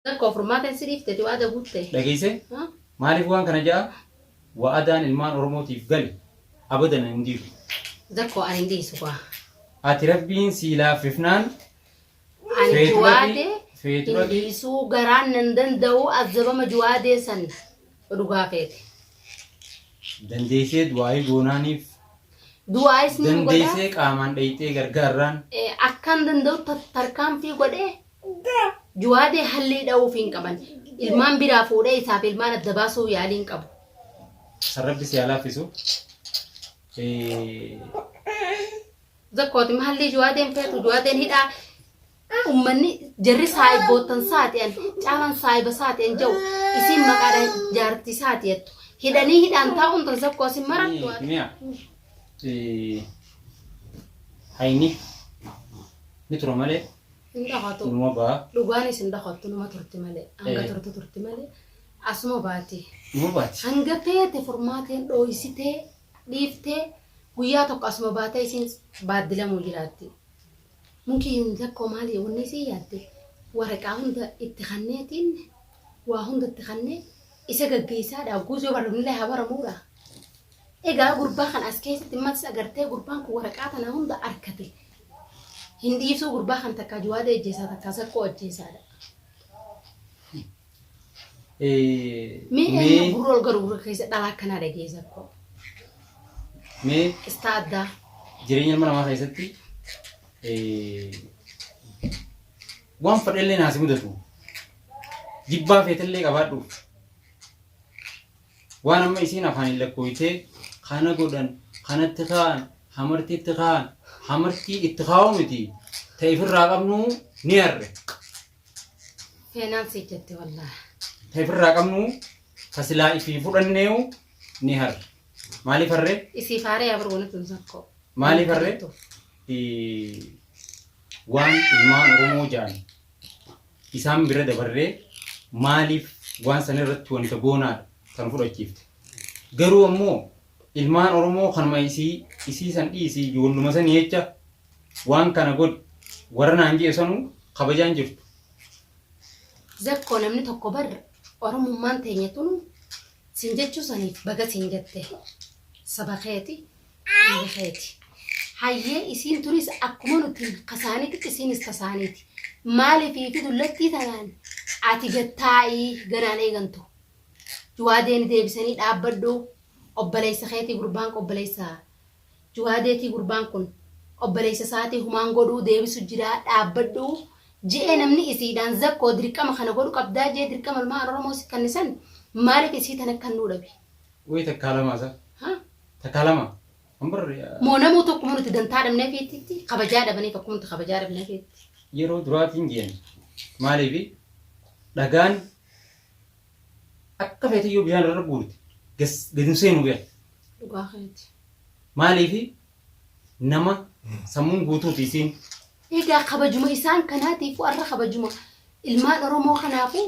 Rakkoo furmaata hin si dhiifte ti waada guutte. Dhageessee? Haa? Maaliif waan kana ja'a? Wa'adaan ilmaan Oromootiif gale abadan hin diigu. Zakkoo ani hin dhiisu kwa. Ati Rabbiin sii laaffifnaan Ani Feeturati- juwaadee hin feeturati- dhiisuu garaan nan danda'u azabama juwaadee san dhugaa feete. dandeessee du'aayii goonaaniif Du'aayis ni godha. dandeessee qaamaan dhayxee gargaarraan Eh, Akkan danda'u ta- tarkaanfii godhee Juwaadee hallii dha'uuf hin qaban. Ilmaan biraa fuudhee isaaf ilmaan adda baasuu yaalii hin qabu. San rabbi si haa laaffisu. Zakkooti mahallii juwaadeen feetu juwaadeen hidhaa ummanni jarri saayibboottan saati'an caalan saayiba saati'an jau isiin maqaadhaan jaartii saati'attu hidhanii hidhaan taa'uun tan zakkoo isin marattu Mi'a. Hayni ni tura malee Hin dhokatu. Numa ba'a. Dhugaanis hin dhokattu numa turti malee. Hanga Eh. turtu turti malee. Asuma baati. Numa baati. Hanga feete furmaateen dhooysitee dhiiftee guyyaa tokko asuma baatee isiin baaddilamuu jiraatti. Mukiin tokko maali wanni isii yaadde waraqaa hunda itti kanneetiin waa hunda itti kannee isa gaggeessaadha guus yoo barumillee haa baramuudha. Egaa gurbaa kan as keessatti matis agartee gurbaan kun waraqaa tana hunda arkate Hin dhiisuu gurbaa kan takkaa juwaada ejjeesaa takkaa saqqoo ajjeesaadha. Mee eenyu gurra ol garu gurra keessa dhalaa akkanaa dhagee saqqoo. Mee Qistaa addaa. jireenya ilma namaa keessatti waan fedhellee naasi mudatu jibbaa feetellee qabaadhu Waan amma isiin afaaniin lakkooytee kana godhan, kanatti kaa'an, hamartii itti kaa'an, hamartii itti kaa'uu miti ta ifirraa qabnuu ni arre. Seenaan si jetti wallah. Ta ifirraa qabnuu ta silaa ifii fudhanneeyu ni harre. Maaliif harre? Isii faaree abar wanatti hin sakkoo. Maaliif harre? Waan ilmaan Oromoo ja'an isaan bira dabarree maaliif waan sana irratti wanta goonaadha kan fudhachiifte. Garuu ammoo ilmaan Oromoo kanuma isii isii san dhiisii ijoolluma san jecha waan kana godhi warra naan jee sanuu kabajaan jirtu. Zakkoo namni tokko bar Oromummaan teenya tun sin jechuu saniif baga sin jette saba keeti Inni keeti. Hayyee isiin turis akkuma nuti kasaanitti isiinis kasaaniiti. Maaliif fi dullattii tanaan ati gad taa'ii ganaan eegantu. Juwaadeeni deebisanii dhaabbadhu obboleessa keetii gurbaan kun obboleessa Juwaadeetii gurbaan kun obboleessa isaatii humaan godhuu deebisu jiraa dhaabbadhu je'ee namni isiidhaan zakkoo dirqama kana godhu qabdaa jee dirqama ilmaan Oromoo si kannisan maaliif isii tana kannuu dhabe. Wayita kaalamaasa. Ha? Takka lama. Kan birri Moo namuu tokkuma nuti dantaa dhabnee feetitti kabajaa dhabanii tokkuma nuti kabajaa dhabnee feetti. yeroo duraatiin jeen maaliifi dhagaan akka feete yoo bishaan irra guurte gas- gadi hin seenu bee Dhugaa keeti. maaliifi nama sammuun guutuuti isiin Egaa kabajuma isaan kanaatiif warra kabajuma ilmaan Oromoo kanaafuu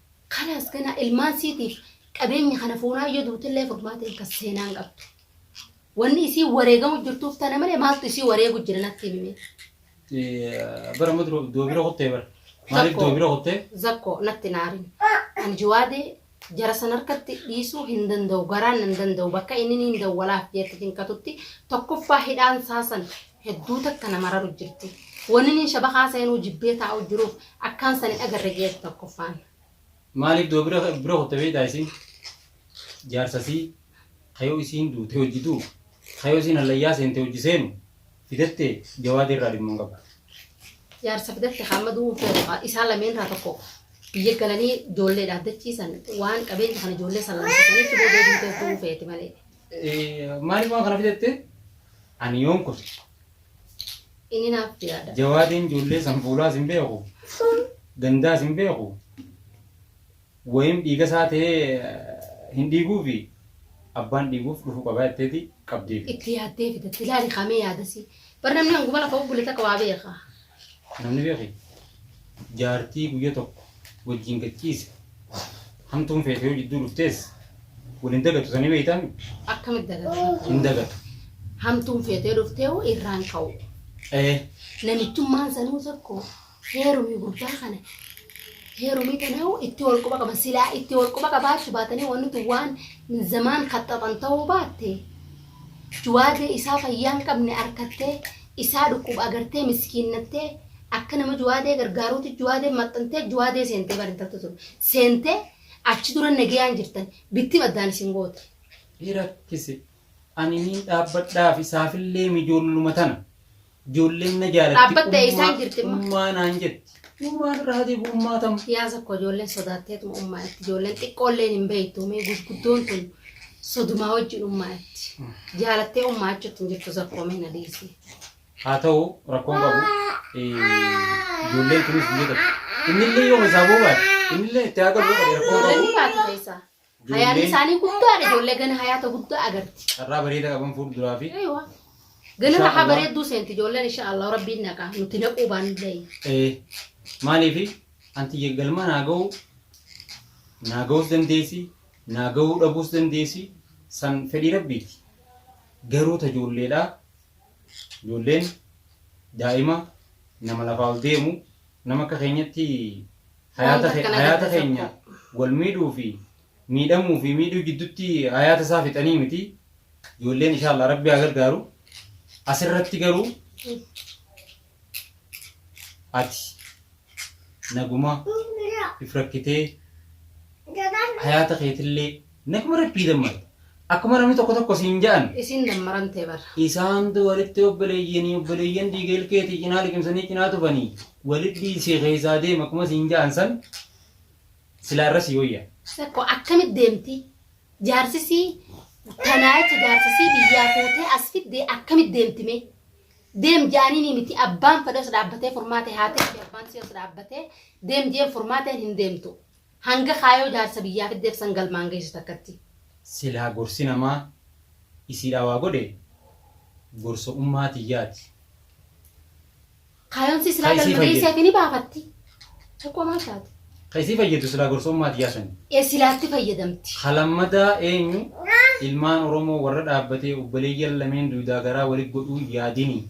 Kalaas ganaa ilmaan siitiif qabeenya kana fuunaa yoo duutillee furmaata hin kas seenaa hin qabdu. Wanni isii wareegamu jirtuuf tana malee maaltu isii wareegu jira natti himi mee. Eh, bara amma dura doo bira kuttee bara. Maaliif Zakko. doo bira kuttee? Zakko natti naarin. Ani jiwaadee jara san harkatti dhiisuu hin danda'u garaan hin danda'u bakka inni niin dawwalaaf jeetti hin katutti tokkoffaa hidhaan saasan hedduu takka na mararu jirti. Waninin shabakaa seenuu jibbee taa'u jiruuf akkaan san hin agarre jeeti tokkoffaan. Maaliif doo bira bira kutte beektaa isiin? Jaarsasii ka yoo isiin duute hojji du'u, ka yoo isiin hallayyaa seente hojji seenu fidatte Jawaadii irraa dhimma hin qabdu. Jaarsa fidatte ka amma du'uun feetu ka isaan lameen irraa tokko biyya galanii ijoollee dhaaddachiisan waan qabeenya kana ijoollee san laamsisaniitti boodee duutee du'uu feeti malee. Maaliif waan kana fidatte? Ani yoon kufe. Inni naaf jiraadha. Jawaadiin ijoollee san fuulaas hin beeku. Gandaas hin beeku. Wayiin dhiiga isaa ta'ee hin dhiiguufi abbaan dhiiguuf dhufu qabaa jetteeti qabdeefi. Itti yaaddee fidatte. Ilaali kaamee yaadasi. Bar namni hanguma lafa bubbule takka waa beeka. Namni beeke jaartii guyya tokko wajjiin gad ciise hamtuun feete yoo jidduu dhuftees wal hin dagatu sanii beeytaami? Akkamitti dagatu? Hin dagatu. Hamtuun feetee dhuftee hoo irraan ka'u. Ee. Namichummaan sanuu tokko heerumii gurbaa kana heerumii kana hoo itti wal quba qaban silaa itti wal quba qabaachuu baatanii wanti waan zamaan kaxxaxan ta'uu baatte Juwaadee isaa fayyaa hin qabne arkattee isaa dhukkuba agartee miskiinnattee akka nama juwaadee gargaaruuti juwaadeen maxxantee juwaadee seentee bar intaltu tun seentee achi dura nagayaan jirtan bittim addaan isin goote. Ni rakkise. Ani niin dhaabbadhaaf isaafillee mijoolluma tana. Ijoolleen na jaalatti. Dhaabbatta eessaa hin jirti immoo? Ummaa naan jetti. Ummaan irraa hati ummaa tam. Siyaasa koo ijoolleen sodaatteetu ummaa itti ijoolleen xiqqoolleen hin beektu mee gurguddoon tun sodumaa wajjin ummaa itti jaalattee ummaa achuutti hin jirtu zakkoo mee na dhiisi. Haa ta'u rakkoon qabu. Ijoolleen tunis biyya tokko. Innillee yoo isaa boobaadha. Innillee itti haa galu rakkoon Ijoolleen qabu. ni baatu keessaa. Hayaan Ijoollee isaanii guddaadha. Ijoollee gana hayaata guddaa agarti. carraa bareeda qaban fuulduraa fi Eeywa. Gana Inshaa rahaa Allah. bareedduu seenti ijoolleen insha Allah rabbiin naqa nuti naquu baanillee. eh, maaliifi anti galma naa ga'uu naa ga'uus dandeessi naa ga'uu dhabuus dandeessi san fedhii rabbiiti. Garuu ta ijoolleedhaa ijoolleen daa'ima nama lafaa ol deemu Nama akka keenyatti hayaata Wanta akkana hayaata gadda keenya tokko. wal miidhuu fi miidhamuu fi miidhuu jiddutti hayaata isaa fixanii miti. Ijoolleen inshaallah rabbi haa gargaaru. Asirratti garuu ati naguma if rakkitee hayaata keetillee Nakuma rabbii dammar. Akkuma namni tokko tokko siin ja'an. Isin dammaran ta'e bara. Isaantu walitti obboleeyyanii obboleeyyan dhiiga ilkeetii cinaa liqimsanii cinaa tufanii walitti si keessaa deema akkuma siin ja'an san silaa irra si wayya. Tokko akkamitti deemti? Jaarsisii tanaa jecha jaarsisii biyyaa fuutee as fiddee akkamitti deemti mee? Deem jaaniinii miti abbaan fedhas dhaabbatee furmaatee haatee fi abbaan siyas dhaabbatee deem jeen furmaateen hin deemtu. Hanga kaayoo jaarsa biyyaa fiddeef san galmaan geessu takkatti. Silaa gorsi namaa isiidhaa waa godhe gorsa ummaa tiyyaati. Kaayoon sii silaa galma geesseefi ni baafatti. Tokkoo maal taate? Ka isii fayyadu silaa gorsa ummaa tiyyaa sani. E silaatti fayyadamti. Ka lammataa eenyu? Ilmaan Oromoo warra dhaabbatee obboleeyyan lameen duydaa garaa wali godhuu yaadini.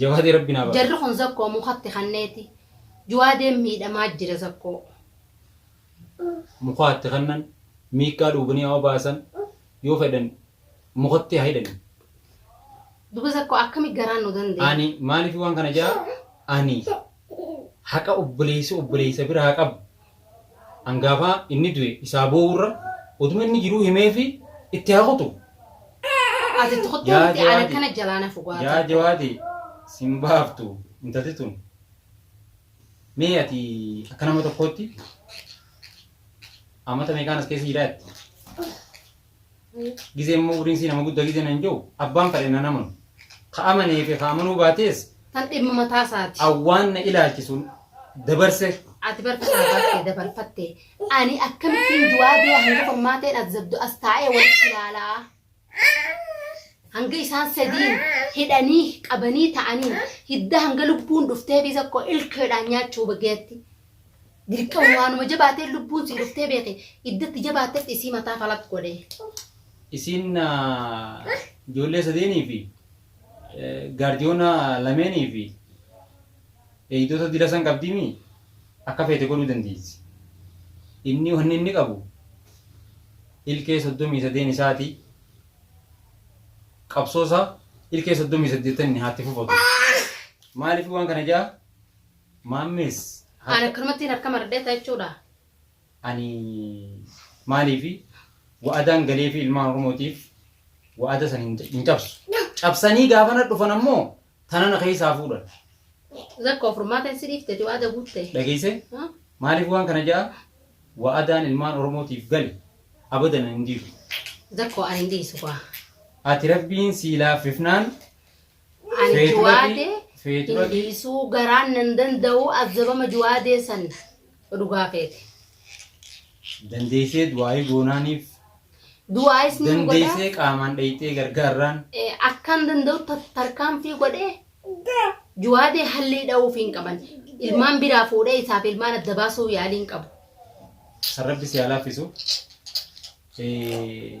Jawaadee rabbi naa baasa. Jarri kun zakkoo mukatti kanneeti juwaadeen miidhamaa jira zakkoo. Mukaa itti kannan miiqqaa dhuubanii haa obaasan yoo fedhan mukatti haa hidhani. Duba zakkoo akkami garaan nu dandee. Ani maaliif waan kana jaa ani. Haqa obboleessi obboleessa biraa qabu angaafa inni du'e isaa boo'urra utuma inni jiruu himeefii itti haa kutu. Ati itti kottuu Yaa miti ana jawaadi. kana jalaa na fugaa Yaa tokko. jawaadi sin baaftu intalti tun. Mee ati akka nama tokkootti amata meeqaan as keessa jiraatte? Gizee immoo uriin sii nama gudda gizee nan jiru abbaan fadhe nan amanu. Ka amanee fi ka amanuu baatees Tan dhimma mataa isaati. awwaan na ilaalchisu dabarse Ati barka saafaattee dabarfattee ani akkamittiin du'aa bee hanga qormaateen as zabdu as taa'ee walitti ilaalaa. Hanga isaan sadiin hidhanii qabanii ta'anii hidda hanga lubbuun dhuftee fi tokko ilkeedhaan nyaachuu bageetti. Dirqama waanuma jabaatee lubbuun sii dhuftee beeke iddatti jabaattetti isii mataa falat godhe. Isiin ijoollee sadeenii fi gaardiyoona lameenii fi eegdota dila san qabdiimi akka feete godhuu dandeessi. Inni wanni inni qabu ilkee soddomii sadeen isaati qabsoosa ilkee soddomii saddeettan inni haatti fufatu. Maaliif waan kana ja'a? Maammees Ani harka. akkanumattiin harka maradhee ta'a jechuudha. Ani maaliifi wa'adaan galeefi ilmaan Oromootiif wa'ada san hin hin cabsu. Cabsanii gaafa na dhufan ammoo tana na keessaa fuudhan. Zakko furmaata hin si dhiifteti waada guutte. Dhageessee? Ha? Maaliif waan kana ja'a? Wa'adaan ilmaan Oromootiif gale abadan hin diigu. Zakko ani hin dhiisu kuwa. Ati rabbiin sii laaffifnaan An Feetu juwaade dhaqii, feetu hin dhaqii. dhiisuu garaan nan danda'u azabama juwaadee san dhugaa keeti. Dandeessee du'aayii goonaaniif. Du'aayis ni godha. Dandeessee qaamaan dhayxee gargaarraan. Eh, Akkan danda'u ta- tarkaanfii godhee juwaadee hallii dha'uuf hin qaban. Ilmaan biraa fuudhee isaaf ilmaan adda baasuu yaalii hin qabu. San rabbi si haa laaffisu. Eh,